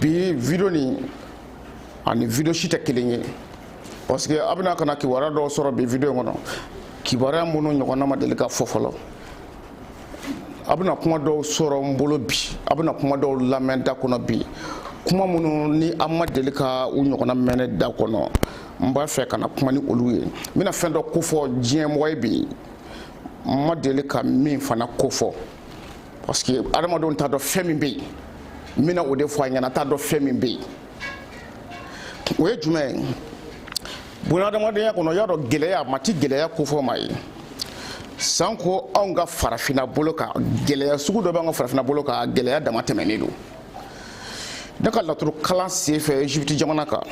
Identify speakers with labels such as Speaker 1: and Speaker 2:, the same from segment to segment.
Speaker 1: bi video nin ani video si tɛ kelen ye parce que a bɛna ka na kibaruya dɔw sɔrɔ bi video in kɔnɔ kibaruya minnu ɲɔgɔnna ma deli ka fɔ fɔlɔ a bɛna kuma dɔw sɔrɔ n bolo bi a bɛna kuma dɔw lamɛn da kɔnɔ bi kuma minnu ni an ma deli ka u ɲɔgɔnna mɛn ne da kɔnɔ n b'a fɛ ka na kuma ni olu ye n bɛna fɛn dɔ kofɔ diɲɛmɔgɔ ye bi n ma deli ka min fana kofɔ parce que adamadenw t'a dɔn fɛn min bɛ yen n bɛna o de fɔ a ɲɛna t'a dɔn fɛn min bɛ yen o ye jumɛn ye bunahadamadenya kɔnɔ y'a dɔn gɛlɛya maa ti gɛlɛya kofɔ maa ye sanko anw ka farafinna bolo kan gɛlɛya sugu dɔ b'an ka farafinna bolo kan gɛlɛya damatɛmɛnen don ne ka laturu kalan senfɛ egypte jamana kan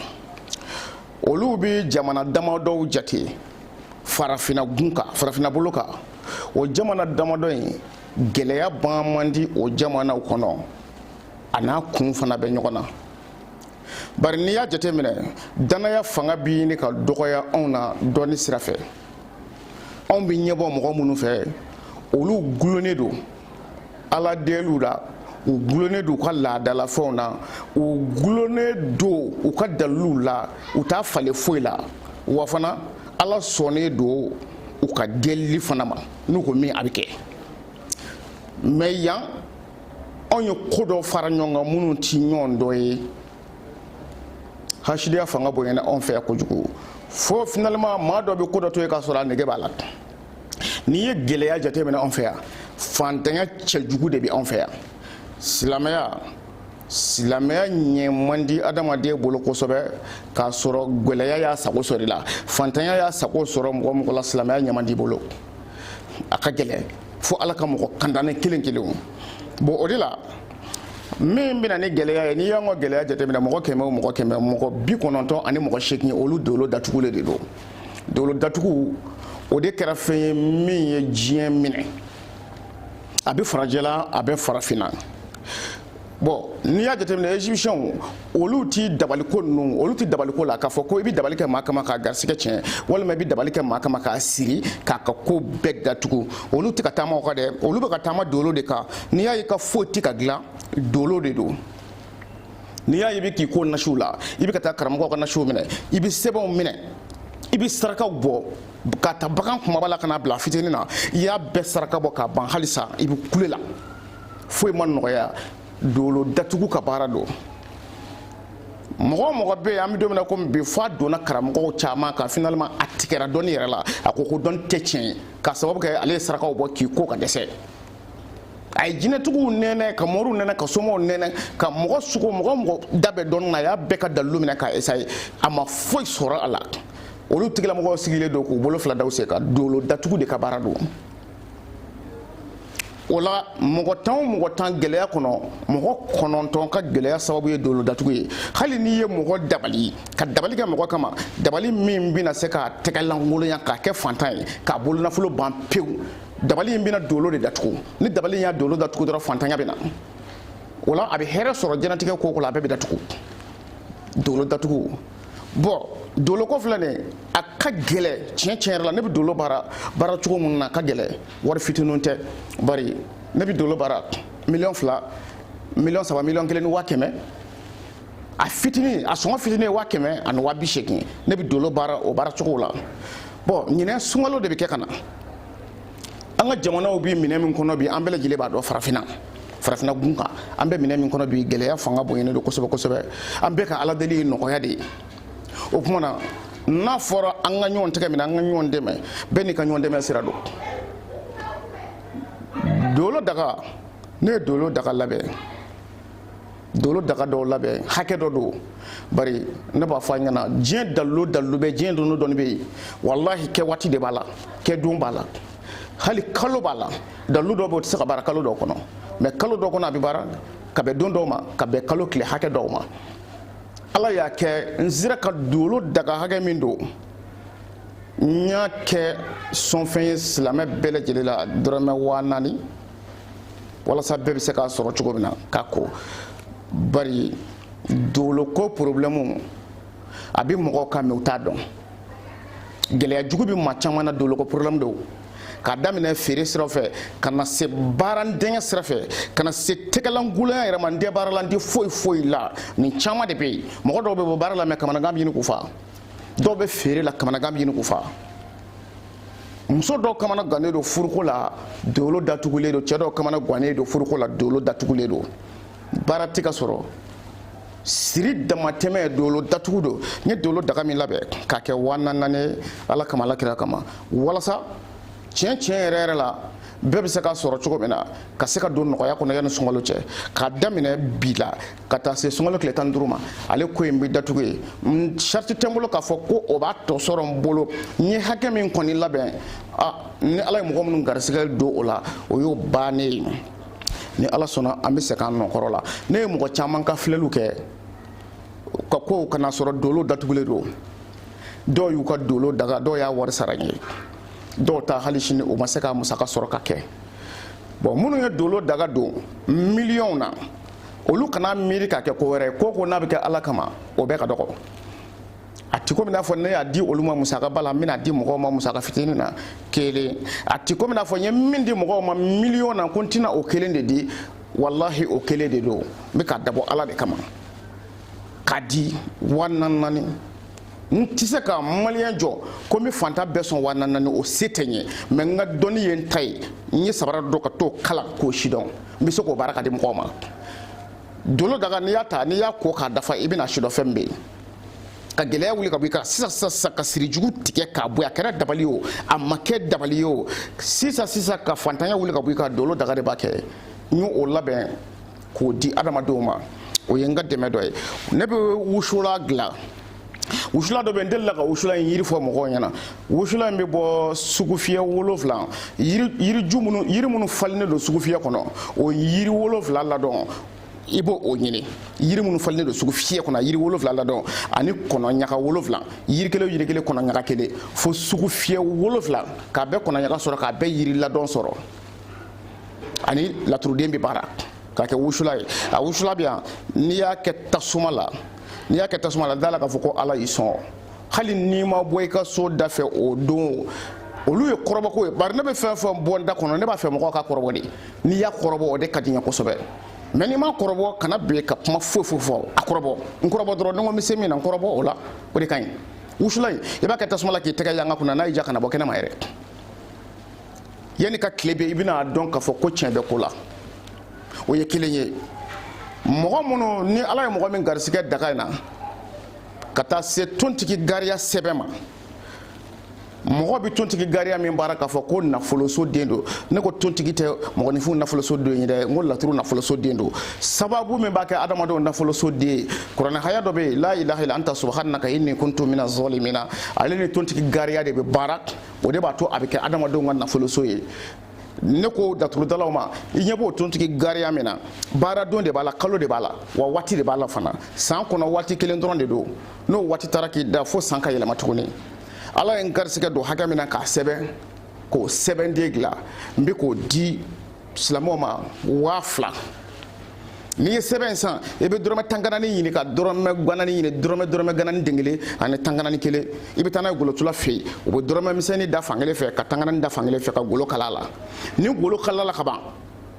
Speaker 1: olu bɛ jamana damadɔw jate farafina gun kan farafina bolo kan o jamana damadɔ in gɛlɛya ban man di o jamanaw kɔnɔ a n'a kun fana bɛ ɲɔgɔn na bari n'i y'a jateminɛ dannaya fanga bɛ ɲini ka dɔgɔya anw na dɔnni sira fɛ anw bɛ ɲɛbɔ mɔgɔ minnu fɛ olu gulonnen don ala deliw la u gulonnen don u ka laadalafɛnw na u gulonnen don u ka daliluw la u t'a falen foyi la wa fana ala sɔnnen don u ka delili fana ma n'u ko min a bɛ kɛ mais yan anw ye ko dɔ fara ɲɔgɔn kan minnu tɛ ɲɔgɔn dɔ ye hasidiya fanga bonyana anw fɛ yan kojugu fo finalement maa dɔ bɛ ko dɔ to yen k'a sɔrɔ a nege b'a la n'i ye gɛlɛya jateminɛ anw fɛ yan fantanya cɛjugu de bɛ anw fɛ yan silamɛya silamɛya ɲɛ man di adamaden bolo kosɛbɛ k'a sɔrɔ gɛlɛya y'a sago sɔrɔ i la fantanya y'a sago sɔrɔ mɔgɔ mɔgɔ la silamɛya ɲɛ man di bolo a ka gɛlɛn fo ala ka mɔgɔ kandanen kelen kelenw bon o de la min bɛna ni gɛlɛya ye n'i y'an ka gɛlɛya jateminɛ mɔgɔ kɛmɛ o mɔgɔ kɛmɛ mɔgɔ bi kɔnɔntɔn ani mɔgɔ seegin olu dolo datugulen de don dolo datugu o de kɛra fɛn ye min ye diɲɛ minɛ a bɛ farajɛla a bɛ farafinna bon n'i y'a jateminɛ egyptiɛnw olu ti dabaliko ninnu olu ti dabaliko la k'a fɔ ko i bɛ dabali kɛ maa kama k'a garisigɛ tiɲɛ walima i bɛ dabali kɛ maa kama k'a siri k'a ka ko bɛɛ datugu olu tɛ ka taama o kan dɛ olu bɛ ka taama dolo de kan n'i y'a ye i ka foyi tɛ ka dilan dolo de don n'i y'a ye i bɛ k'i ko nasiw la i bɛ ka taa karamɔgɔw ka nasiw minɛ i bɛ sɛbɛnw minɛ i bɛ sarakaw bɔ ka ta bagan kumaba la ka na bila fitinin na i y'a bɛɛ saraka bɔ k'a ban halisa i bɛ kule la foyi ma nɔgɔya dolo datugu ka baara don mɔgɔ o mɔgɔ bɛ yen an bɛ don min na komi bi f'a donna karamɔgɔw caman kan finalement a tigɛra dɔnni yɛrɛ la a ko ko dɔnni tɛ tiɲɛ ye k'a sababu kɛ ale ye sarakaw bɔ k'i ko ka dɛsɛ a ye jinɛtigiw nɛnɛ ka moriw nɛnɛ ka somaw nɛnɛ ka mɔgɔ sugu o mɔgɔ mɔgɔ da bɛ dɔnni na a y'a bɛɛ ka dalilu minɛ k'a esaye a ma foyi sɔrɔ a la olu tigilamɔgɔw sigilen don k'u bolo fila da u sen kan dolo datugu de ka baara don o la mɔgɔ tan o mɔgɔ tan gɛlɛya kɔnɔ mɔgɔ kɔnɔntɔn ka gɛlɛya sababu ye dolo datugu ye hali n'i ye mɔgɔ dabali ka dabali kɛ mɔgɔ kama dabali min bɛna se k'a tɛgɛ lankolonya k'a kɛ faantan ye k'a bolo nafolo ban pewu dabali in bɛna dolo de datugu ni dabali in y'a dolo datugu dɔrɔn faantanya bɛ na o la a bɛ hɛrɛ sɔrɔ diɲɛnatigɛ ko ko la a bɛɛ bɛ datugu dolo datugu bɔn dolo ko filɛ nin a ka gɛlɛn tiɲɛ tiɲɛ yɛrɛ la ne bɛ dolo baara baara cogo min na a ka gɛlɛn wari fitininw tɛ bari ne bɛ dolo baara miliyɔn fila miliyɔn saba miliyɔn kelen ni waa kɛmɛ a fitinin a sɔngɔ fitinin ye waa kɛmɛ ani waa bi seegin ne bɛ dolo baara o baara cogo la bɔn ɲinan sunkalo de bɛ kɛ ka na an ka jamanaw bɛ minɛn min kɔnɔ bi an bɛɛ lajɛlen b'a dɔn farafinna farafinna gun kan an bɛ minɛn min kɔnɔ bi gɛlɛya fanga bonyalen don kosɛbɛ kosɛbɛ an bɛɛ ka ala deli ye nɔgɔya de ye o tuma na n'a fɔra an ka ɲɔgɔn tɛgɛ minɛ an ka ɲɔgɔn dɛmɛ bɛɛ n'i ka ɲɔgɔn dɛmɛ sira don dolo daga ne ye dolo daga labɛn dolo daga dɔw labɛn hakɛ dɔ don bari ne b'a fɔ aw ɲɛ na diɲɛ dalilu dalilu bɛ diɲɛ dɔnni dɔnni bɛ yen walahi kɛ waati de b'a la kɛ don b'a la hali kalo b'a la dalilu dɔw bɛ o tɛ se ka baara kalo dɔw kɔnɔ mɛ kalo dɔw kɔnɔ a bɛ baara ka bɛn don dɔw ma ka bɛn kalo tile hakɛ dɔw ma ala y'a kɛ n sera ka dolo daga hakɛ min don n y'a kɛ sɔnfɛn ye silamɛ bɛɛ lajɛlen la dɔrɔmɛ waa naani walasa bɛɛ bɛ se k'a sɔrɔ cogo min na ka ko bari dolo ko porobilɛmu a bɛ mɔgɔw kan mɛ u t'a dɔn gɛlɛya jugu bɛ maa caman na dolo ko porobilɛmu don k'a daminɛ feere sira fɛ ka na se baaradenkɛ sira fɛ ka na se tɛgɛlankolonya yɛrɛ ma n tɛ baara la n tɛ foyi foyi la nin caman de bɛ yen mɔgɔ dɔw bɛ bɔ baara la mɛ kamanagan bɛ ɲini k'u fa dɔw bɛ feere la kamanagan bɛ ɲini k'u fa muso dɔw kamana gannen don furuko la dolo datugulen don cɛ dɔw kamana gannen don furuko la dolo datugulen don baara tɛ ka sɔrɔ siri damatɛmɛ dolo datugu don n ye dolo daga min labɛn k'a kɛ waa naani ala kama ala kira kama walasa tiɲɛ tiɲɛ yɛrɛ yɛrɛ la bɛɛ bɛ se k'a sɔrɔ cogo min na ka se ka don nɔgɔya kɔnɔ yanni sunkalo cɛ k'a daminɛ bi la ka taa se sunkalo tile tan duuru ma ale ko in bɛ datugu ye sarati tɛ n bolo k'a fɔ ko o b'a tɔ sɔrɔ n bolo n ye hakɛ min kɔni labɛn a ni ala ye mɔgɔ minnu garisigɛ don o la o y'o bannen ye ni ala sɔnna an bɛ segin an nɔ kɔrɔ la ne ye mɔgɔ caman ka filɛliw kɛ ka kow kana sɔrɔ dolo datugulen don dɔw y'u ka dolo daga dɔw y'a wari sara n ye dɔw ta hali sini o ma se ka musaka sɔrɔ ka kɛ bɔn minnu ye dolo daga don miliyɔnw na olu kana miiri ka kɛ ko wɛrɛ ye ko ko n'a bɛ kɛ ala kama o bɛɛ ka dɔgɔ a ti komi n'a fɔ ne y'a di olu ma musaka ba la n bɛn'a di mɔgɔw ma musaka fitinin na kelen a ti komi n'a fɔ n ye min di mɔgɔw ma miliyɔn na ko n tɛna o kelen de di walahi o kelen de don n bɛ k'a dabɔ ala de kama k'a di wa naani naani n tɛ se ka maliyɛn jɔ ko n bɛ fantan bɛɛ sɔn wa naani o se tɛ n ye mɛ n ka dɔnni ye n ta ye n ye sabara don ka t'o kalan k'o sidɔn n bɛ se k'o baara k'a di mɔgɔw ma dolo daga n'i y'a ta n'i y'a ko k'a dafa i bɛna sidɔn fɛn min bɛ yen ka gɛlɛya wuli ka bɔ i kan sisan sisan sisan ka sirijugu tigɛ k'a bɔ a kɛra dabali ye o a ma kɛ dabali ye o sisan sisan ka fantanya wuli ka bɔ i kan dolo daga de b'a kɛ n y'o labɛn k'o di adamadenw ma o ye n ka dɛmɛ dɔ ye ne bɛ wusulan dilan wusula dɔ bɛ n delila ka wusula in yiri fɔ mɔgɔw ɲɛna wusula in bɛ bɔ sugufiyɛ wolonfila yiriju minnu yiri minnu falennen don sugufiyɛ kɔnɔ o yiri wolonfila ladon i b'o ɲini yiri minnu falennen don sugufiyɛ kɔnɔ yiri wolonfila ladon ani kɔnɔ ɲaga wolonfila yiri kelen yiri kelen kɔnɔ ɲaga kelen fo sugufiyɛ wolonfila k'a bɛɛ kɔnɔ ɲaga sɔrɔ k'a bɛɛ yiri ladon sɔrɔ ani laturuden bɛ baara k'a kɛ wusula ye a wusula bɛ yan n'i y'a kɛ tasuma la n'i y'a kɛ tasuma la d'a la k'a fɔ ko ala y'i sɔn hali n'i ma bɔ i ka so da fɛ o don olu ye kɔrɔbɔko ye bari ne bɛ fɛn fɛn bɔ n da kɔnɔ ne b'a fɛ mɔgɔw k'a kɔrɔbɔ de n'i y'a kɔrɔbɔ o de ka di n ye kosɛbɛ mɛ n'i m'a kɔrɔbɔ kana bin ka kuma foyi foyi fɔ a kɔrɔbɔ n kɔrɔbɔ dɔrɔn ni n ko n bɛ se min na n kɔrɔbɔ o la o de ka ɲi wusula in i b'a kɛ tasuma la k'i tɛgɛ yanga kunna n'a y'i ja kana bɔ kɛnɛma yɛrɛ yanni ka tile bin i bɛna a dɔn k'a fɔ ko tiɲɛ bɛ ko la o ye kelen ye mɔgɔ minnu ni ala ye mɔgɔ min garisigɛ daga in na ka taa se tontigi gariya sɛbɛn ma mɔgɔ bɛ tontigi gariya min baara k'a fɔ ko nafoloso den don ne ko tontigi tɛ mɔgɔninfin nafoloso den ye dɛ n ko laturu nafoloso den don sababu min b'a kɛ adamadenw nafoloso den ye kuranɛ haya dɔ bɛ yen la ilaha illa anta subhanaka inni kuntu mina zalimina ale ni tontigi gariya de bɛ baara o de b'a to a bɛ kɛ adamadenw ka nafoloso ye ne ko daturudalaw ma i ɲɛ b'o tontigi gariya min na baaradon de b'a la kalo de b'a la wa waati de b'a la fana san kɔnɔ waati kelen dɔrɔn de don n'o waati taara k'i dan fo san ka yɛlɛma tuguni ala ye n garisigɛ don hakɛ min na k'a sɛbɛn k'o sɛbɛnden dilan n bɛ k'o di silamɛw ma waa fila n'i ye sɛbɛn in san i bɛ dɔrɔmɛ tan ganani ɲini ka dɔrɔmɛ ganani ɲini dɔrɔmɛ dɔrɔmɛ ganani den kelen ani tan ganani kelen i bɛ taa n'a ye golotula fɛ yen u bɛ dɔrɔmɛ misɛnnin da fan kelen fɛ ka tan ganani da fan kelen fɛ ka golo kala a la ni golo kalala ka ban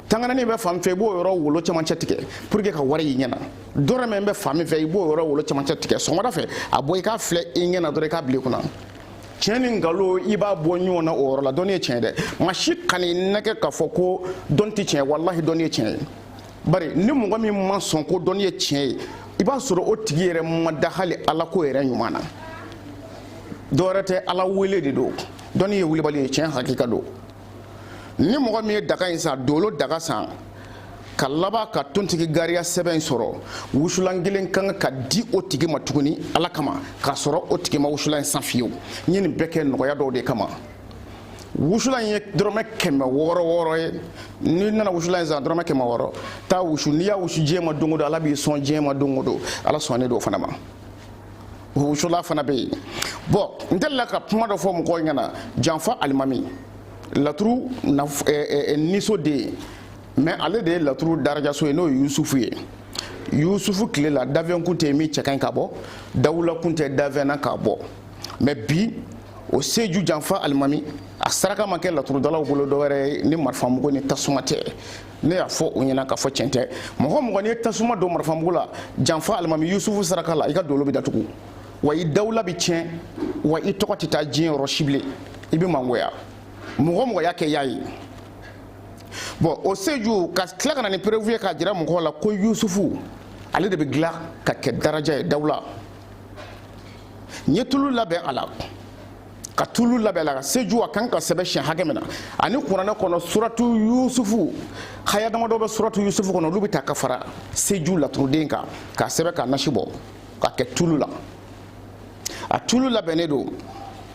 Speaker 1: tan ganani bɛ fan fɛ i b'o yɔrɔ wolo cɛmancɛ tigɛ pour que ka wari y'i ɲɛ na dɔrɔmɛ bɛ fan min fɛ i b'o yɔrɔ wolo cɛmancɛ tigɛ sɔgɔmada fɛ a bɔ i k'a filɛ i ɲɛ na dɔrɔn i k'a bila i kunna tiɲɛ ni nkalon i b'a bɔ ɲɔgɔn na o yɔrɔ la dɔnni ye tiɲɛ dɛ maa si kana i nɛgɛn k'a fɔ ko dɔnni tɛ tiɲɛ walahi dɔnni ye tiɲɛ ye bari ni mɔgɔ min ma sɔn ko dɔnni ye tiɲɛ ye i b'a sɔrɔ o tigi yɛrɛ ma da hali ala ko yɛrɛ ɲuman na dɔwɛrɛ tɛ ala wele de don dɔnni ye wulibali ye tiɲɛ hakika don ni mɔgɔ min ye daga in san dolo daga san ka laban ka tontigi gariya sɛbɛn in sɔrɔ wusulan kelen ka kan ka di o tigi ma tuguni ala kama k'a sɔrɔ o tigi ma wusulan in san fiyewu n ye nin bɛɛ kɛ nɔgɔya dɔw de kama wusulan ye dɔrɔmɛ kɛmɛ wɔɔrɔ wɔɔrɔ ye n'i nana wusulan in san dɔrɔmɛ kɛmɛ wɔɔrɔ taa wusu n'i y'a wusu diɲɛ ma don o don ala b'i sɔn diɲɛ ma don o don ala sɔnnen don o fana ma wusulan fana bɛ yen bon n delila ka kuma dɔ fɔ mɔgɔw ɲɛna janfa alimami laturu niso de ye mais ale de ye laturu darajaso ye n'o ye yusufu ye yusufu tile la danfɛn kun tɛ min cɛ ka ɲi k'a bɔ dawula kun tɛ danfɛn na k'a bɔ mais bi o seju janfa alimami a saraka ma kɛ laturudalaw bolo dɔwɛrɛ ye ni marifamugu ni tasuma tɛ ne y'a fɔ u ɲɛna k'a fɔ tiɲɛ tɛ mɔgɔ mɔgɔ n'i ye tasuma don marifamugu la janfa alimami yusufu saraka la i ka dolo bɛ datugu wa i dawula bɛ tiɲɛ wa i tɔgɔ tɛ taa diɲɛ yɔrɔ si bilen i bɛ mangoya mɔgɔ mɔgɔ y'a kɛ y'a ye bon o seju ka tila ka na ni preuve ye k'a jira mɔgɔw la ko yusufu ale de bɛ dilan ka kɛ daraja ye dawula n ye tulu labɛn a la ka tulu labɛn la ka seju a kan ka sɛbɛn siɲɛ hakɛ min na ani kuranɛ kɔnɔ suratu yusufu haya damadɔ bɛ suratu yusufu kɔnɔ olu bɛ ta ka fara seju laturuden kan k'a sɛbɛn k'a nasi bɔ ka kɛ tulu la a tulu labɛnnen don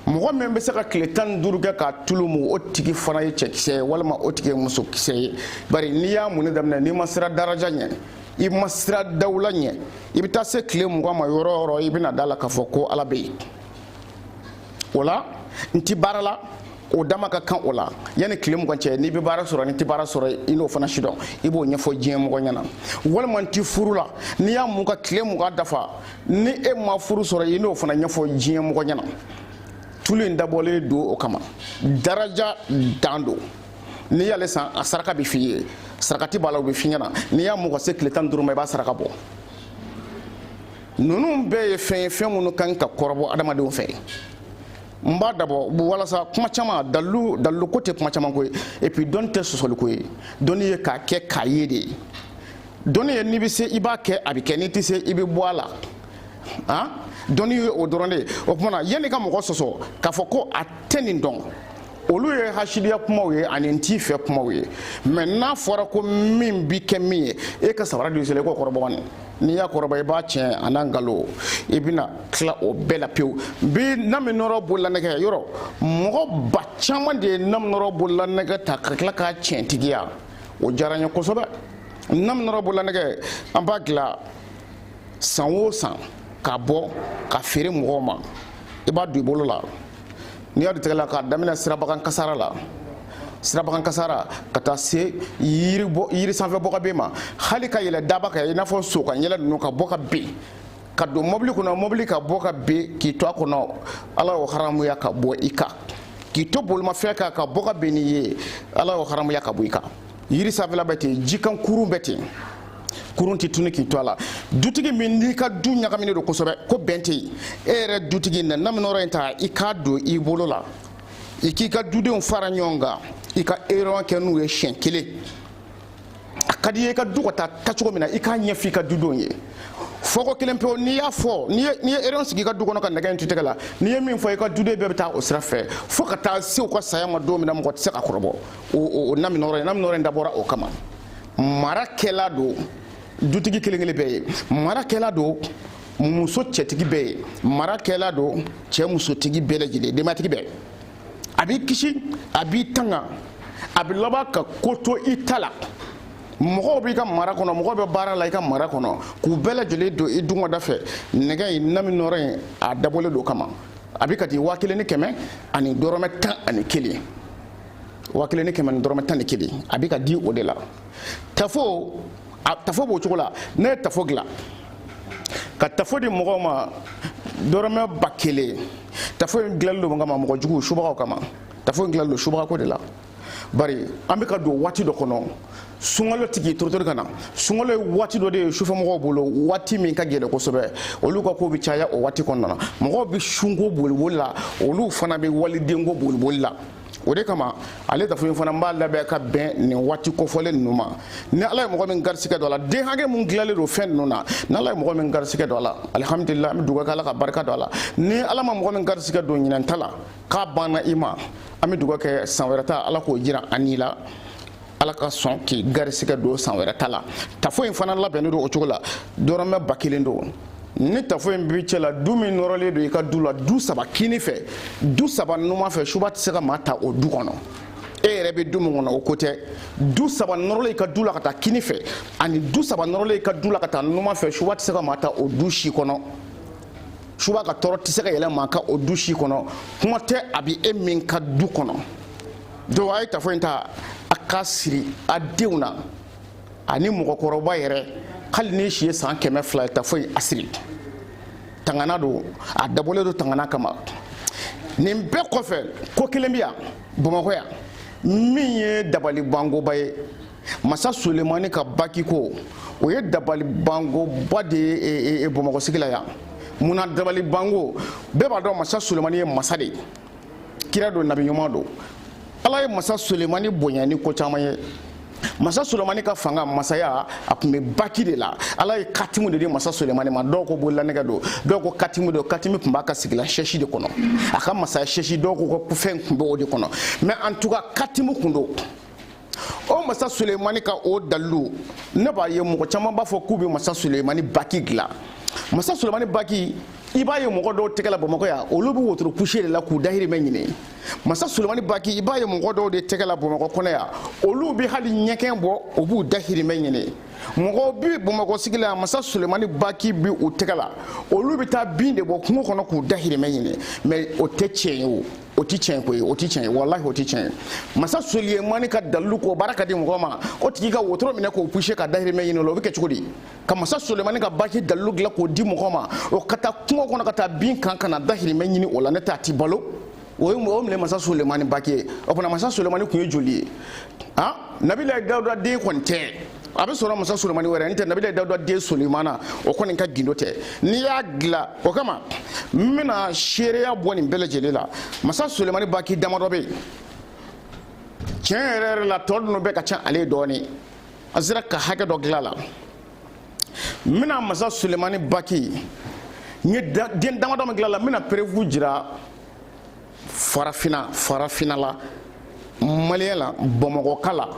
Speaker 1: mɔgɔ min bɛ se ka tile tan ni duuru kɛ k'a tulu mu o tigi fana ye cɛkisɛ ye walima o tigi ye musokisɛ ye bari n'i y'a munni daminɛ n'i ma sira daraja ɲɛ i ma sira dawula ɲɛ i bɛ taa se tile mugan ma yɔrɔ o yɔrɔ i bɛna da la k'a fɔ ko ala bɛ yen o la n'i tɛ baara la o dama ka kan o la yanni tile mugan cɛ n'i bɛ baara sɔrɔ n'i tɛ baara sɔrɔ i n'o fana sidɔn i b'o ɲɛfɔ diɲɛ mɔgɔ ɲɛna walima n'i tɛ furu la n'i y'a mun ka tile mugan dafa ni e ma furu sɔrɔ i n'o fana ɲɛfɔ diɲɛ mɔgɔ ɲɛna tulu in dabɔlen don o kama daraja dan don n'i y'ale san a saraka bɛ f'i ye sarakati b'a la o bɛ f'i ɲɛna n'i y'a mun ka se tile tan ni duuru ma i b'a saraka bɔ ninnu bɛɛ ye fɛn ye fɛn minnu kan ka kɔrɔbɔ adamadenw fɛ n b'a dabɔ walasa kuma caman dalilu ko tɛ kuma caman ko ye et puis dɔnni tɛ sɔsɔli ko ye dɔnni ye k'a kɛ k'a ye de ye dɔnni ye n'i bɛ se i b'a kɛ a bɛ kɛ n'i tɛ se i bɛ bɔ a la han dɔnni ye o dɔrɔn de ye o tuma na yanni ka mɔgɔ sɔsɔ k'a fɔ ko a tɛ nin dɔn olu ye hasidiya kumaw ye ani n t'i fɛ kumaw ye mais n'a fɔra ko min bi kɛ min ye e ka sabara don i sen na i k'o kɔrɔbɔ nin n'i y'a kɔrɔbɔ i b'a tiɲɛ an'a nkalon i bɛna tila o bɛɛ la pewu bi naminɔrɔ bololanɛgɛ yɔrɔ mɔgɔ ba caman de ye naminɔrɔ bololanɛgɛ ta ka tila k'a tiɲɛtigiya o diyara n ye kosɛbɛ naminɔrɔ bololanɛgɛ an b'a dilan san o san k'a bɔ ka feere mɔgɔw ma i b'a don i bolo la n'i y'a don i tɛgɛ la k'a daminɛ sirabagan kasara la sirabagan kasara ka taa se yiri sanfɛ bɔ ka bin ma hali ka yɛlɛ daaba kan i n'a fɔ so ka yɛlɛ ninnu ka bɔ ka bin ka don mɔbili kɔnɔ mɔbili ka bɔ ka bin k'i to a kɔnɔ ala y'o haramuya ka bɔ i kan k'i to bolimafɛn kan ka bɔ ka bin n'i ye ala y'o haramuya ka bɔ i kan yiri sanfɛla bɛ ten jikan kurun bɛ ten kurun tɛ tunu k'i to a la dutigi min n'i ka du ɲagaminen don kosɛbɛ ko bɛn tɛ yen e yɛrɛ dutigi na naminɔrɔ in ta i k'a don i bolo la i k'i ka dudenw fara ɲɔgɔn kan i ka réunion kɛ n'u ye siɲɛ kelen a ka di i ye i ka du ka taa cogo min na i k'a ɲɛfɔ i ka dudenw ye fɔko kelen pewu n'i y'a fɔ n'i ye réunion sigi i ka du kɔnɔ ka nɛgɛ in to tɛgɛ la n'i ye min fɔ i ka duden bɛɛ bɛ taa o sira fɛ fo ka taa se u ka saya ma don min na mɔgɔ tɛ se ka kɔrɔbɔ o naminɔrɔ ye naminɔrɔ in dabɔra o kama mara kɛla don dutigi kelen kelen bɛɛ ye mara kɛla don muso cɛtigi bɛɛ ye mara kɛla don cɛ musotigi bɛɛ lajɛlen denbatigi bɛɛ a b'i kisi a b'i tanga a bɛ laban ka ko to i ta la mɔgɔw b'i ka mara kɔnɔ mɔgɔw bɛ baara la i ka mara kɔnɔ k'u bɛɛ lajɛlen don i dungɔda fɛ nɛgɛ in naminɔrɔ in a dabɔlen don kama a bɛ ka di waa kelen ni kɛmɛ ani dɔrɔmɛ tan ani kelen wa kelen ni kɛmɛ ni dɔrɔmɛ tan ni kelen a bɛ ka di o de la tafo a tafo b'o cogo la ne ye tafo dilan ka tafo di mɔgɔw ma dɔrɔmɛ ba kelen tafo in dilanlen don kama mɔgɔ jugu subagaw kama tafo in dilanlen don subagako de la bari an bɛ ka don waati dɔ kɔnɔ sunkalo tigi torotori ka na sunkalo ye waati dɔ de ye sufɛmɔgɔw bolo waati min ka gɛlɛn kosɛbɛ olu ka ko bɛ caya o waati kɔnɔna na mɔgɔw bɛ sunko boliboli la olu fana bɛ walidenko boliboli la o de kama ale tafo in fana n b'a labɛn ka bɛn nin waati kofɔlen ninnu ma ni ala ye mɔgɔ min garisigɛ don a la den hakɛ min dilanlen don fɛn ninnu na ni ala ye mɔgɔ min garisigɛ don a la alihamudulila an bɛ dugawu kɛ ala ka barika don a la ni ala ma mɔgɔ min garisigɛ don ɲinɛn ta la k'a banna i ma an bɛ dugawu kɛ san wɛrɛ ta ala k'o jira an n'i la ala ka sɔn k'i garisigɛ don san wɛrɛ ta la tafo in fana labɛnnen don o cogo la dɔrɔmɛ ba kelen don ni tafo in b'i cɛ la du min nɔrɔlen don i ka du la du saba kini fɛ du saba numan fɛ suba tɛ se ka maa ta o du kɔnɔ e yɛrɛ bɛ du min kɔnɔ o ko tɛ du saba nɔrɔlen i ka du la ka taa kini fɛ ani du saba nɔrɔlen i ka du la ka taa numan fɛ suba tɛ se ka maa ta o du si kɔnɔ suba ka tɔɔrɔ tɛ se ka yɛlɛ maa kan o du si kɔnɔ kuma tɛ a bɛ e min ka du kɔnɔ donc a ye tafo in ta a ka siri a denw na ani mɔgɔkɔrɔba yɛrɛ hali n'i si ye san kɛmɛ fila ye tafo in a siri tangana don a dabɔlen don tangana kama nin bɛɛ kɔfɛ ko kelen bɛ yan bamakɔ yan min ye dabali bangoba ye masa sulemani ka baki ko o ye dabali bangoba de ye e, e, e, bamakɔ sigi la yan mun na dabali bango bɛɛ b'a dɔn masa sulemani ye masa de ye kira don nabi ɲuman don ala ye masa sulemani bonya ni ko caman ye masa sulemani ka fanga masaya a tun bɛ baki de la ala ye katimu de di masa sulemani ma dɔw ko bololanɛgɛ don dɔw ko katimu don katimu tun b'a ka sigilan sɛsi de kɔnɔ a ka masaya sɛsi dɔw ko fɛn tun bɛ o de kɔnɔ mais en tout cas katimu tun don o masa sulemani ka o dalilu ne b'a ye mɔgɔ caman b'a fɔ k'u bɛ masa sulemani baki dilan masa sulemani baki i b'a ye mɔgɔ dɔw tɛgɛ la bamakɔ yan olu bɛ wotoro puse de la k'u dahirimɛ ɲini masa sulemani baki i b'a ye mɔgɔ dɔw de tɛgɛ la bamakɔ kɔnɔ yan olu bɛ hali ɲɛgɛn bɔ u b'u dahirimɛ ɲini mɔgɔw bɛ bamakɔ sigi la masa sulemani baki bɛ u tɛgɛ la olu bɛ taa bin de bɔ kungo kɔnɔ k'u dahirimɛ ɲini mais o tɛ tiɲɛ ye o o ti tiɲɛ koyi o ti tiɲɛ ye walahi o ti tiɲɛ ye masa sulemani ka dalilu k'o baara ka di mɔgɔ ma o tigi ka wotoro minɛ k'o puse ka dahirimɛ ɲini o la o bɛ kɛ cogo di ka masa sulemani ka baki dalilu dilan k'o di mɔgɔ ma o ka taa kungo kɔnɔ ka taa bin kan ka na dahirimɛ ɲini o la ne t'a ti balo o ye o minɛ masa sulemani baki ye o fana masa sulemani tun ye joli ye ah nabilayi dawuda den kɔni tɛ a bɛ sɔrɔ masa sulemani wɛrɛ n tɛ nabila dawuda den sulemana o kɔni ka gundo tɛ n'i y'a dilan o kama n bɛna seereya bɔ nin bɛɛ lajɛlen la masa sulemani baki damadɔ bɛ yen tiɲɛ yɛrɛ yɛrɛ la tɔ ninnu bɛɛ ka ca ale ye dɔɔnin a sera ka hakɛ dɔ dilan a la n bɛna masa sulemani baki n ye den damadɔ min dilan a la n bɛna preuve jira farafina farafinna la maliyɛn la bamakɔka la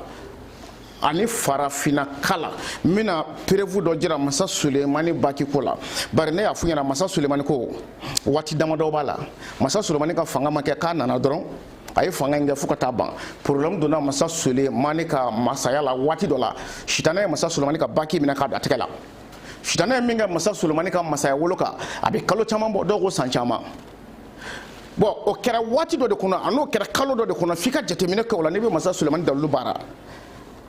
Speaker 1: ani farafinaka la n bɛna preuve dɔ jira masa sulemani baki ko la bari ne y'a f'u ɲɛna masa sulemani ko waati damadɔ b'a la masa sulemani ka fanga ma kɛ k'a nana dɔrɔn a ye fanga in kɛ fo ka taa ban problème donna masa sulemani ka masaya la waati dɔ la sitanɛ ye masa sulemani ka baki minɛ k'a don a tɛgɛ la sitanɛ ye min kɛ masa sulemani ka masaya wolo kan a bɛ kalo caman bɔ dɔw ko san caman bɔn o kɛra waati dɔ de kɔnɔ a n'o kɛra kalo dɔ de kɔnɔ f'i ka jateminɛ kɛ o la n'i bɛ masa sulemani dalilu baara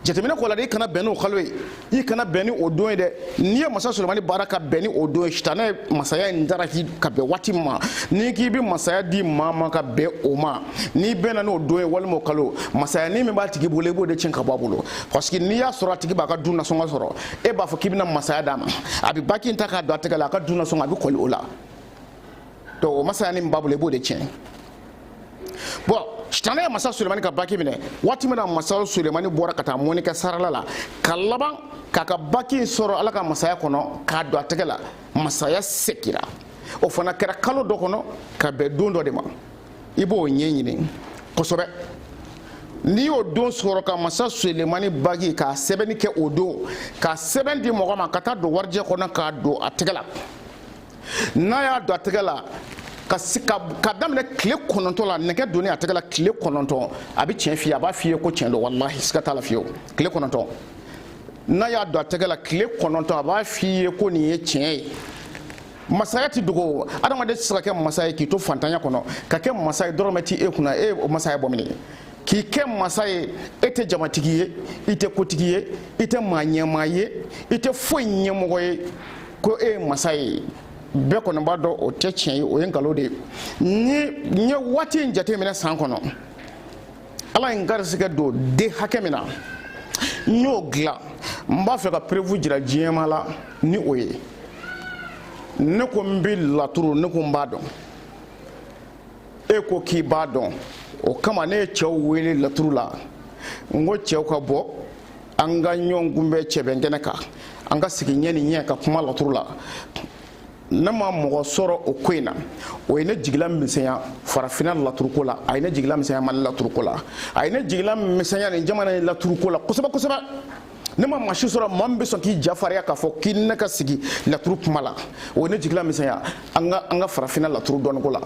Speaker 1: jateminɛ k'o la dɛ i kana bɛn n'o kalo ye i kana bɛn ni o don ye dɛ n'i ye masa sulemani baara ka bɛn ni o don ye sitanɛ ye masaya in dara k'i ka bɛn waati min ma n'i k'i bɛ masaya di maa ma ka bɛn o ma n'i bɛnna n'o don ye walima o kalo masayanin min b'a tigi bolo i b'o de tiɲɛ ka bɔ a bolo parce que n'i y'a sɔrɔ a tigi b'a ka du nasɔngɔ sɔrɔ e b'a fɔ k'i bɛna masaya d'a ma a bɛ baki in ta k'a don a tɛgɛ la a ka du nasɔngɔ a bɛ kɔli o la donc o masayanin min b'a bolo i b'o de tiɲɛ bɔn sitanɛ ye masa sulemani ka baki minɛ waati min na masa sulemani bɔra ka taa mɔni kɛ sarala la ka laban k'a ka baki sɔrɔ ala ka masaya kɔnɔ k'a don a tɛgɛ la masaya segira o fana kɛra kalo dɔ kɔnɔ ka bɛn don dɔ de ma i b'o ɲɛɲini kosɛbɛ n'i y'o don sɔrɔ ka masa sulemani baki ka sɛbɛnni kɛ o don ka sɛbɛn di mɔgɔ ma ka taa don warijɛ kɔnɔ k'a don a tɛgɛ la n'a y'a don a tɛgɛ la ka daminɛ tile kɔnɔntɔn la nɛgɛ donni a tɛgɛ la tile kɔnɔntɔn a bɛ tiɲɛ f'i ye a b'a f'i ye ko tiɲɛ don walahi siga t'a la fiyewu tile kɔnɔntɔn n'a y'a don a tɛgɛ la tile kɔnɔntɔn a b'a f'i ye ko nin ye tiɲɛ ye masaya ti dogo adamaden tɛ se ka kɛ masa ye k'i to fantanya kɔnɔ ka kɛ masa ye dɔrɔmɛ ti e kunna e o masaya bɔ mini k'i kɛ masa ye e tɛ jamatigi ye i tɛ kotigi ye i tɛ maa ɲɛmaa ye i tɛ foyi ɲɛmɔgɔ ye ko e ye masa ye bɛɛ kɔni b'a dɔn o tɛ tiɲɛ ye o ye nkalon de ye n ye waati in jateminɛ san kɔnɔ ala ye n garisigɛ don den hakɛ min na n y'o dilan n b'a fɛ ka preuve jira diɲɛ maa la ni o ye ne ko n bɛ laturu ne ko n b'a dɔn e ko k'i b'a dɔn o kama ne ye cɛw wele laturu la n ko cɛw ka bɔ an ka ɲɔgɔn kunbɛn cɛbɛnkɛnɛ kan an ka sigi ɲɛ ni ɲɛ ka kuma laturu la ne ma mɔgɔ sɔrɔ o ko in na o ye ne jigila misɛnya farafinna laturuko la a ye ne jigila misɛnya mali laturuko la a ye ne jigila misɛnya nin jamana in laturuko la kosɛbɛ kosɛbɛ ne ma maa si sɔrɔ maa min bɛ sɔn k'i ja fariya k'a fɔ k'i ne ka sigi laturu kuma la o ye ne jigila misɛnya an ka farafinna laturu dɔnniko la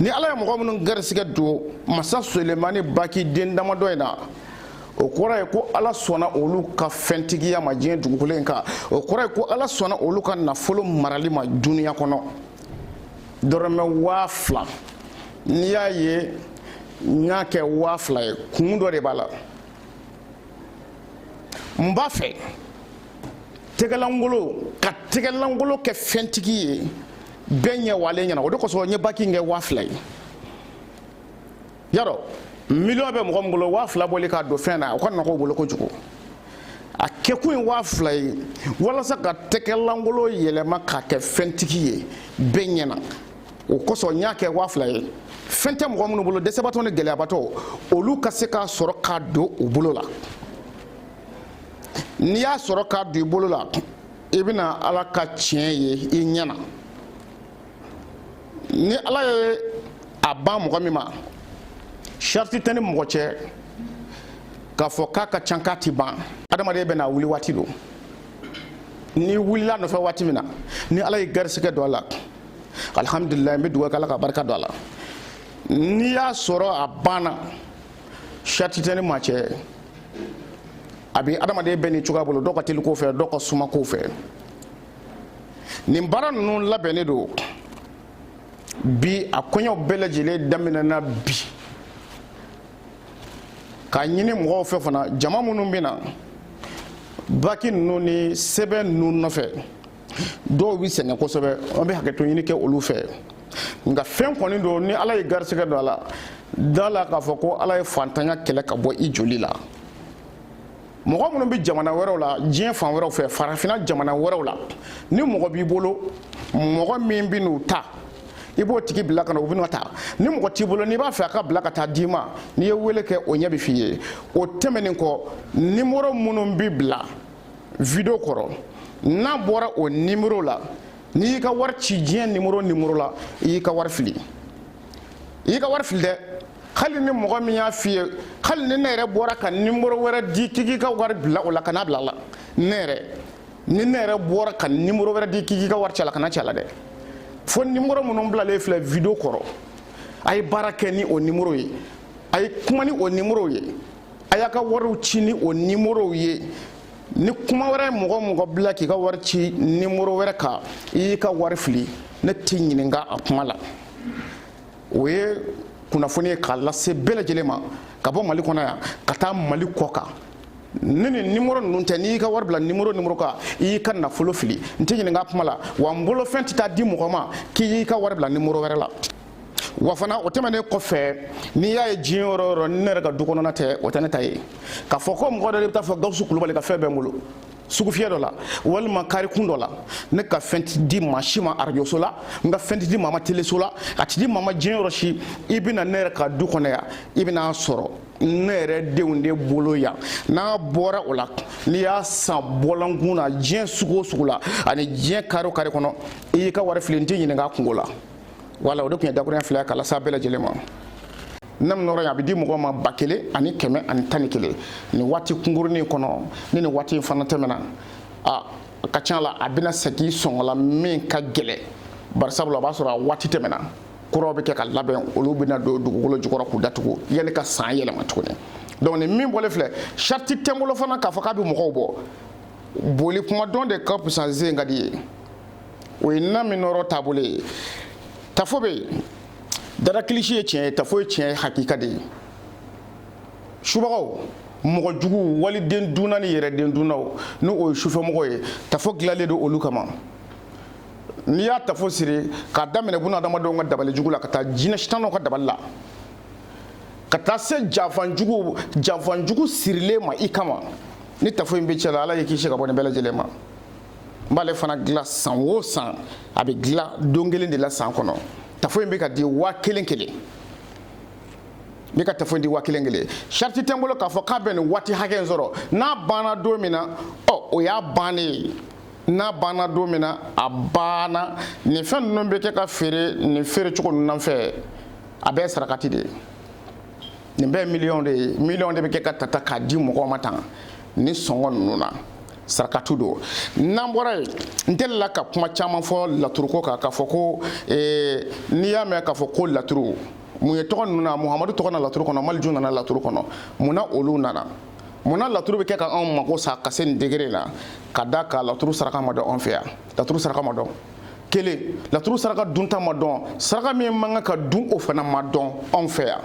Speaker 1: ni ala ye mɔgɔ minnu garisigɛ don masa sulemani baki den damadɔ in na o kɔrɔ ye ko ala sɔnna olu ka fɛntigiya ma diɲɛ dugukolo in kan o kɔrɔ ye ko ala sɔnna olu ka nafolo marali ma duniya kɔnɔ dɔrɔmɛ waa fila n'i y'a ye n y'a kɛ waa fila ye kun dɔ de b'a la n b'a fɛ tɛgɛlankolon ka tɛgɛlankolon kɛ fɛntigi ye bɛɛ ɲɛ walen ɲɛna o de kosɔn n ye baki kɛ waa fila ye yarɔ miliyɔn bɛ mɔgɔ min bolo waa fila bɔli k'a don fɛn na o ka nɔgɔ o bolo kojugu a kɛkun ye waa fila ye walasa ka tɛgɛlankolon yɛlɛma k'a kɛ fɛntigi ye bɛɛ ɲɛna o kosɔn n y'a kɛ waa fila ye fɛn tɛ mɔgɔ minnu bolo dɛsɛbatɔ ni gɛlɛyabatɔ olu ka se k'a sɔrɔ k'a don u bolo la n'i y'a sɔrɔ k'a don i bolo la i bɛna ala ka tiɲɛ ye i ɲɛ na ni ala ye a ban mɔgɔ min ma sarati tɛ n ni mɔgɔ cɛ k'a fɔ k'a ka ca k'a ti ban adamaden bɛna wuli waati don n'i wulila nɔfɛ waati min na ni ala ye garisigɛ don a la alihamudulila n bɛ dugawu kɛ ala ka barika don a la n'i y'a sɔrɔ a banna sarati tɛ n ni maa cɛ a bɛ adamaden bɛɛ ni cogoya bolo dɔw ka teli ko fɛ dɔw ka suma ko fɛ nin baara ninnu labɛnnen don bi a koɲɛ bɛɛ lajɛlen daminɛna bi k'a ɲini mɔgɔw fɛ fana jama minnu bɛ na bagi ninnu ni sɛbɛn ninnu nɔfɛ dɔw bɛ sɛgɛn kosɛbɛ an bɛ hakɛto ɲini kɛ olu fɛ nka fɛn kɔni don ni ala ye garisigɛ don a la da la k'a fɔ ko ala ye fantanya kɛlɛ ka bɔ i joli la mɔgɔ minnu bɛ jamana wɛrɛw la diɲɛ fan wɛrɛw fɛ farafinna jamana wɛrɛw la ni mɔgɔ b'i bolo mɔgɔ min bɛ n'u ta i b'o tigi bila ka na u bɛna a ta ni mɔgɔ t'i bolo n'i b'a fɛ a ka bila ka taa d'i ma n'i ye wele kɛ o ɲɛ bɛ f'i ye o tɛmɛnen kɔ nimoro minnu bɛ bila video kɔrɔ n'a bɔra o nimero la n'i y'i ka wari ci diɲɛ nimero o nimero la i y'i ka wari fili i y'i ka wari fili dɛ hali ni mɔgɔ min y'a f'i ye hali ni ne yɛrɛ bɔra ka nimero wɛrɛ di k'i k'i ka wari bila o la kan'a bila a la ne yɛrɛ ni ne yɛrɛ bɔra ka nimero wɛrɛ di k'i k'i ka wari ci a la kan'a ci a la dɛ fo nimero minnu bilalen filɛ video kɔrɔ a ye baara kɛ ni o nimero ye a ye kuma ni o nimero ye a y'a ka wariw ci ni o nimorow ye ni kuma wɛrɛ mɔgɔ o mɔgɔ bila k'i ka wari ci nimoro wɛrɛ kan i y'i ka wari fili ne tɛ ɲininka a kuma la o ye kunnafoni ye k'a lase bɛɛ lajɛlen ma ka bɔ mali kɔnɔ yan ka taa mali kɔkan ni nin nimoro ninnu tɛ n'i y'i ka wari bila nimoro o nimoro kan i y'i ka nafolo fili n tɛ ɲininka a kuma la wa n bolofɛn tɛ taa di mɔgɔ ma k'i y'i ka wari bila nimoro wɛrɛ la wa fana o tɛmɛnen kɔfɛ n'i y'a ye diɲɛ yɔrɔ o yɔrɔ ni ne yɛrɛ ka du kɔnɔna tɛ o tɛ ne ta ye k'a fɔ ko mɔgɔ dɔ de bɛ taa fɔ gawusu kulubali ka fɛn bɛ n bolo sugufiyɛ dɔ la walima karikun dɔ la ne ka fɛn tɛ di maa si ma arajoso la n ka fɛn tɛ di maa ma teleso la a tɛ di maa ma diɲɛ yɔrɔ si i bɛ na ne yɛrɛ ka du kɔnɔ yan i bɛna a sɔrɔ ne yɛrɛ denw de bolo yan n'a bɔra o la n'i y'a san bɔlɔnkun na diɲɛ sugu o sugu la ani diɲɛ kari o kari kɔnɔ i y'i ka wari fili n tɛ ɲininka a kunko la wala o de tun ye dakuruɲɛ fila ye k'a lase a bɛɛ lajɛlen ma nam nɔrɔ a bɛ di mɔgɔ ma ba kelen ani kɛmɛ ani tan ni kelen nin waati kunkurunin kɔnɔ ni nin waati in fana tɛmɛna a ka ca la a bɛna segin sɔngɔ la min ka gɛlɛ bari sabula o b'a sɔrɔ a waati tɛmɛna kuraw bɛ kɛ ka labɛn olu bɛna don dugukolo jukɔrɔ k'u datugu yanni ka san yɛlɛma tuguni donc nin min bɔlen filɛ sarati tɛ n bolo fana k'a fɔ k'a bɛ mɔgɔw bɔ boli kuma dɔn de ka fisa ni sen ka di ye o ye na min nɔrɔ taabolo ye tafo bɛ yen dara kilisi ye tiɲɛ ye tafo ye tiɲɛ ye hakika de ye subagaw mɔgɔ jugu waliden dunna ni yɛrɛden dunnaw ni o ye sufɛmɔgɔ ye tafo dilanlen don olu kama n'i y'a tafo siri k'a daminɛ buna adamadenw ka dabali jugu la ka taa jinɛ sitanɛw ka dabali la ka taa se janfan jugu janfan jugu sirilen ma i kama ni tafo in b'i cɛ la ala y'i kisi ka bɔ nin bɛɛ lajɛlen ma n b'ale fana dilan san o san a bɛ dilan don kelen de la san kɔnɔ tafo in bɛ ka di waa kelen kelen n bɛ ka tafo in di waa kelen kelen sarati tɛ n bolo k'a fɔ k'a bɛ nin waati hakɛ in sɔrɔ n'a banna don min na ɔ o y'a bannen ye n'a banna don min na a banna nin fɛn ninnu bɛ kɛ ka feere nin feere cogo ninnu fɛ a bɛɛ ye sarakati de ye nin bɛɛ ye miliyɔn de ye miliyɔn de bɛ kɛ ka tata k'a di mɔgɔw ma tan ni sɔngɔ ninnu na. sarakatu don n'an bɔra yen n delila ka kuma caman fɔ laturuko kan k'a fɔ ko eh, n'i y'a mɛn k'a fɔ ko laturu mun ye tɔgɔ ninnu na muhamadu tɔgɔ na laturu kɔnɔ maliju nana laturu kɔnɔ mun na olu nana mun na laturu bɛ kɛ ka anw mago sa ka se nin degré la ka d'a kan laturu saraka ma dɔn anw fɛ yan laturu saraka ma dɔn kelen laturu saraka dunta ma dɔn saraka min man kan ka dun o fana ma dɔn anw fɛ yan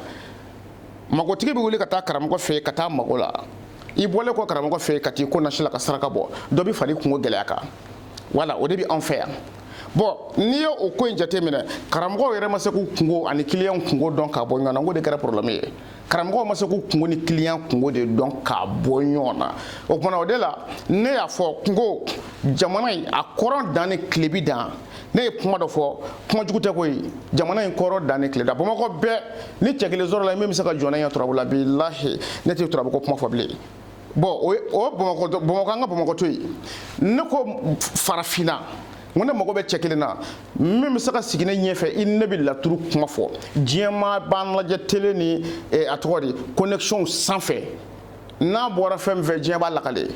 Speaker 1: magotigi bɛ wuli ka taa karamɔgɔ fɛ yen ka taa mago la i bɔlen kɔ karamɔgɔ fɛ ka t'i ko nasi la ka saraka bɔ dɔ bɛ fara i kungo gɛlɛya kan wala o de bɛ anw fɛ yan bɔn n'i ye o ko in jateminɛ karamɔgɔw yɛrɛ ma se k'u kungo ani kiliyanw kungo dɔn k'a bɔ ɲɔgɔn na n ko de kɛra problème ye karamɔgɔw ma se k'u kungo ni kiliyan kungo de dɔn k'a bɔ ɲɔgɔn na o tuma na o de la ne y'a fɔ ko n ko jamana in a kɔrɔn dan ni tilebin dan ne ye kuma dɔ fɔ kuma jugu tɛ koyi jamana in kɔrɔn dan ni tile dan bamakɔ bɛɛ ni cɛ kelen sɔrɔla min bɛ se ka jɔ ne ɲɛ turabu la bilahi ne tɛ turabu ko kuma fɔ bilen bɔn o ye o bamakɔ bamakɔ an ka bamakɔ to yen ne ko farafinna n ko ne mago bɛ cɛ kelen na min bɛ se ka sigi ne ɲɛfɛ i ne bɛ laturu kuma fɔ diɲɛmaa b'an lajɛ tele ni eh, a tɔgɔ de connexion sanfɛ n'a bɔra fɛn min fɛ diɲɛ b'a lakale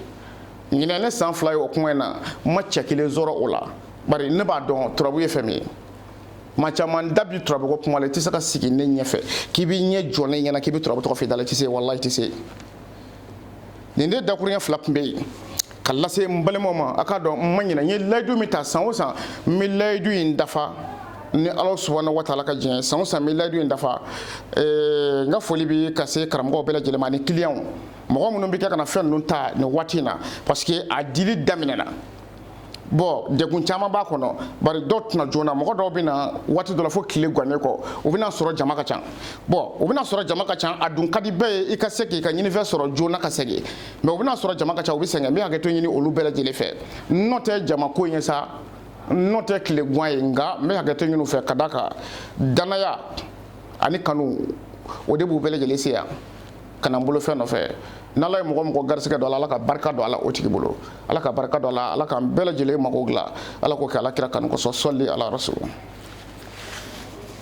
Speaker 1: ɲinɛ ne san fila ye o kuma in na n ma cɛ kelen sɔrɔ o la bari ne b'a dɔn turabu ye fɛn min ye maa caman da bi turabu ko kuma la i tɛ se ka sigi ne ɲɛfɛ k'i b'i ɲɛ jɔ ne ɲɛ na k'i bɛ turabu tɔgɔ f'i da la i tɛ se walahi i tɛ se nin de dakuruɲɛ fila tun bɛ yen ka lase n balimaw ma a k'a dɔn n ma ɲinɛ n ye layidu min ta san o san n bɛ layidu in dafa ni ala subahana wa taala ka diɲɛ san o san n bɛ layidu in dafa n ka foli bɛ ka se karamɔgɔw bɛɛ lajɛlen ma ani kiliyanw mɔgɔ minnu bɛ kɛ ka na fɛn ninnu ta nin waati in na parce que a dili daminɛna bon degun caman b'a kɔnɔ bari dɔw tɛ na joona mɔgɔ dɔw bɛ na waati dɔ la fo tile gannen kɔ u bɛ n'a sɔrɔ jama ka ca bon u bɛ n'a sɔrɔ jama ka ca a dun ka di bɛɛ ye i ka se k'i ka ɲinifɛn sɔrɔ joona ka segin mais u bɛ n'a sɔrɔ jama ka ca u bɛ sɛgɛn n bɛ hakɛto ɲini olu bɛɛ lajɛlen fɛ n nɔ tɛ jama ko in ye sa n nɔ tɛ tile gan ye nka n bɛ hakɛto ɲini u fɛ k'a da kan danaya ani kanu o de b'u bɛɛ lajɛlen se yan ka na n bolo fɛn nɔfɛ n'ala ye mɔgɔ o mɔgɔ garisɛgɛ don a la ala ka barika don a la o tigi bolo ala ka barika don a la ala k'an bɛɛ lajɛlen mako dilan ala k'o kɛ ala kira kanu kosɔn sɔli ala rasulu